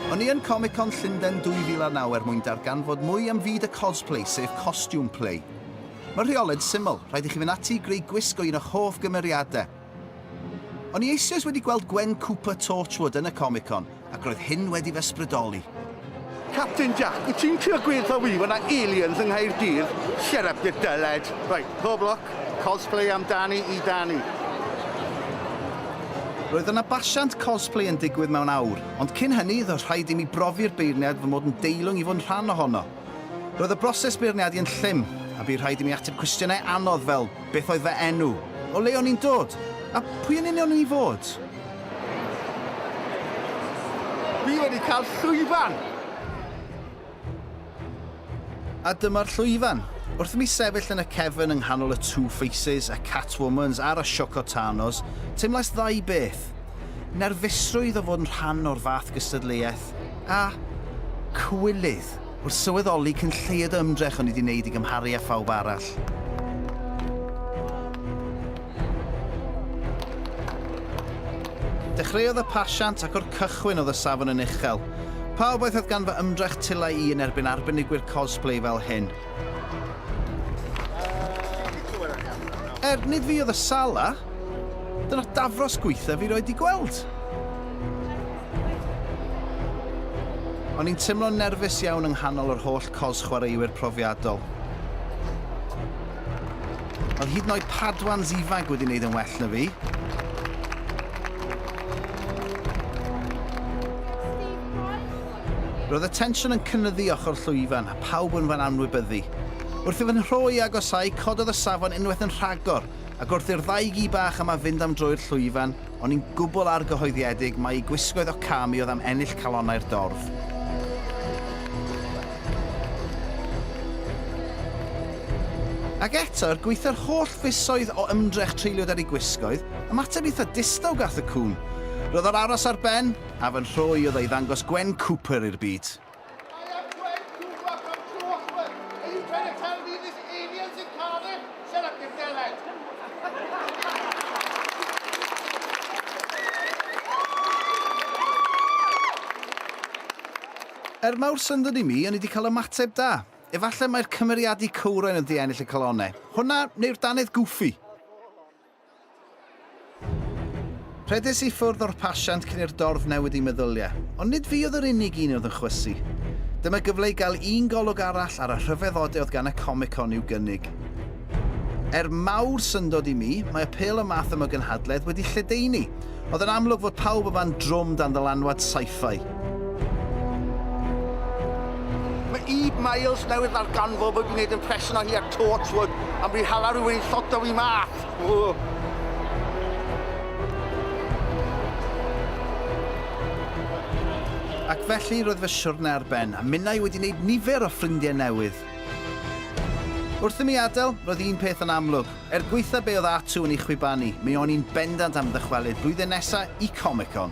O'n i yn Comic Con Llundain 2009 er mwyn darganfod mwy am fyd y cosplay, sef costume play. Mae rheolau'n syml, rhaid i chi fynd ati i greu gwisg o un o'ch hoff gymeriadau. O'n i eisoes wedi gweld Gwen Cooper Torchwood yn y Comic Con, Ac roedd hyn wedi fy ysbrydoli. Capten Jac, wyt ti'n trio gweutha fi fod 'na aliens yng Nghaerdydd? Shut up you dullhead. Right, pob lwc, cosplay amdani i Dani. Roedd yna basiant cosplay yn digwydd mewn awr, ond cyn hynny, roedd rhaid i mi brofi'r beirniad fy mod yn deilwng i fod yn rhan ohono. Roedd y broses beirniadu yn llym, a bu rhaid i mi ateb cwestiynau anodd fel, beth oedd fy enw? O le o'n i'n dod? A pwy yn union o'n i fod? Fi wedi cael llwyfan! A dyma'r llwyfan. Wrth i mi sefyll yn y cefn yng nghanol y Two Faces, y Catwomans a'r Ashoka Tanos, teimlais ddau beth. Nerfusrwydd o fod yn rhan o'r fath gystadleuaeth, Cymraeg. A cywilydd, wrth sylweddoli cyn lleied o ymdrech o'n i 'di wneud i gymharu â phawb arall. Dechreuodd y pasiant ac o'r cychwyn oedd y safon yn uchel. Pa obaith oedd gan fy ymdrech tulai i yn erbyn arbenigwyr cosplay fel hyn? Er, nid fi oedd y Sala. Dyna'r dafros gwaethaf fi roed 'di gweld. O'n i'n teimlo'n nerfus iawn yng nghanol yr holl cos chwaraewyr profiadol. Oedd hyd yn oed Padwans ifanc wedi wneud yn well na fi. Roedd y tensiwn yn cynnyddu ochr llwyfan a pawb yn fan anwybyddu. Wrth i fy nhro i agosau, cododd y safon unwaith yn rhagor, ac wrth i'r ddau gi bach yma fynd am droi'r llwyfan, O'n i'n gwbl argyhoeddiedig mai gwisgoedd o cam i oedd am ennill calonnau'r dorf. Ac eto, er gweithio'r holl fisoedd o ymdrech treuliodd ar ei gwisgoedd, ymateb eitha distaw gath y cŵn. Roedd o'r aros ar ben, a fy nhro i oedd ei ddangos Gwen Cooper i'r byd. Er mawr syndod i mi, o'n i wedi cael ymateb da. Efallai mai'r cymeriadu cywrain yn ddiennill y calonnau. Hwnna, neu'r dannedd gwffi? Rhedais i ffwrdd o'r pasiant cyn i'r dorf newid ei meddyliau, ond nid fi oedd yr unig un oedd yn chwysu. Dyma gyfle i gael un golwg arall ar y rhyfeddode oedd gan y Comic Con i'w gynnig. Er mawr syndod i mi, mae apêl y math yma o gynhadledd wedi lledaenu, Oedd yn amlwg fod pawb yma'n drwm dan ddylanwad sci-fi. Mae Eve Myles newydd ddarganfod fod fi'n gwneud impression o hi ar Torchwood, am fi hala rhywun i lloto fi mas! Ww. Ac felly roedd fy siwrne ar ben, a minnau wedi wneud nifer o ffrindiau newydd. Wrth i mi adael, roedd un peth yn amlwg. Er gwaetha be oedd Atu yn ei chwibanu, mi o'n i'n bendant am ddychwelyd blwyddyn nesa i Comic-Con!